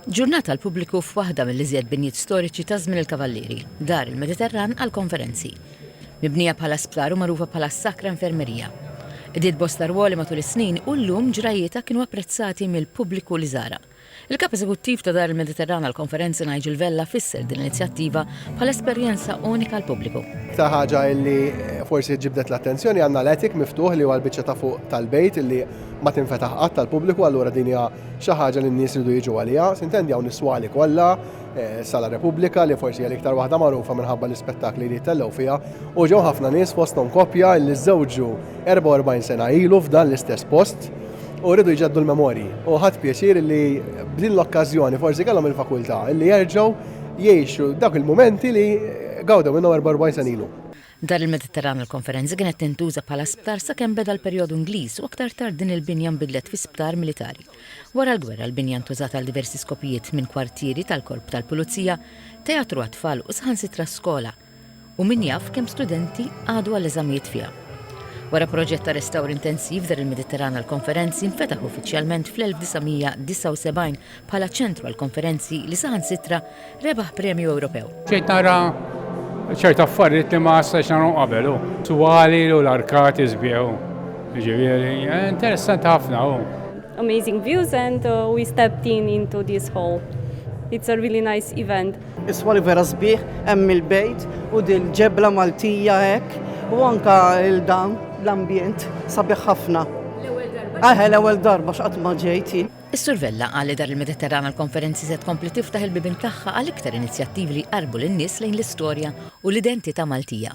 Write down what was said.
Ġurnata għall-pubbliku f'waħda mill-iżjed binjiet storiċi ta' żmien il-Kavallieri, Dar il-Mediterran għall-Konferenzi. Mibnija bħala sptar u magħrufa bħala s-Sacra Infermeria. Qdiet bosta rwoli matul is-snin u llum ġrajjietha kienu apprezzati mill-pubbliku li żarha. Il-Kap Eżekuttiv ta' Dar il-Mediterran għall-Konferenzi Nigel Vella fisser din l-inizjattiva bħala esperjenza unika għall-pubbliku. L-iktar ħaġa li forsi ġibdet l-attenzjoni għandna l-attic miftuħ li huwa l-biċċa ta' fuq tal-bejt li ma tinfetaħ qatt għall-pubbliku allura din hija xi ħaġa li n-nies iridu jiġu għaliha, sintendi hawn is-swali kollha, eh, Sala Repubblika li forsi hija l-iktar waħda magħrufa minħabba l-ispettakli li jittellgħu fiha, u ġew ħafna nies fosthom koppja li żżewġu 44 sena ilu f'dan l-istess post u rridu jġeddu l-memorji. U ħadd pjaċir li b'din l-okkażjoni forsi kellhom il-fakultà li jerġgħu jgħixu dak il-mumenti li gawdew minnhom 44 sena ilu. Dar il-Mediterran għall-Konferenzi kienet tintuża bħala sptar sakemm beda l-perjodu Ingliż u aktar tard din il-binja nbidlet fi sptar militari. Wara l-gwerra l-binja ntużat għal diversi skopijiet minn kwartieri tal-Korp tal-Pulizija, teatru għat-tfal u saħansitra skola u min jaf kemm studenti qagħdu għall-eżamijiet fiha. Wara proġett ta' restawr intensiv Dar il-Mediterran għall-Konferenzi nfetaħ uffiċjalment fl-1979 bħala ċentru għall-konferenzi li saħansitra rebaħ premju Ewropew. Bdejt nara ċerta affarijiet li ma stajtx nagħhom qabel hu. Twali u l-arkati sbieħu. Ġifieri, eh, interessanti ħafna hu. Amazing views and uh, we stepped in into this hall. It's a really nice event. Iswa li vera sbieħ hemm il-bejt u dil ġebla Maltija hekk u anka il-dan l-ambjent sabiħ ħafna. L-ewwel darba. Aħe l-ewwel darba x'qatt ma ġejti. Is-Sur Vella qal li Dar il-Mediterran għall-Konferenzi se tkompli tiftaħ il-bibien tagħha għal iktar inizjattivi li jqarrbu lin-nies lejn l-istorja u l-identità Maltija.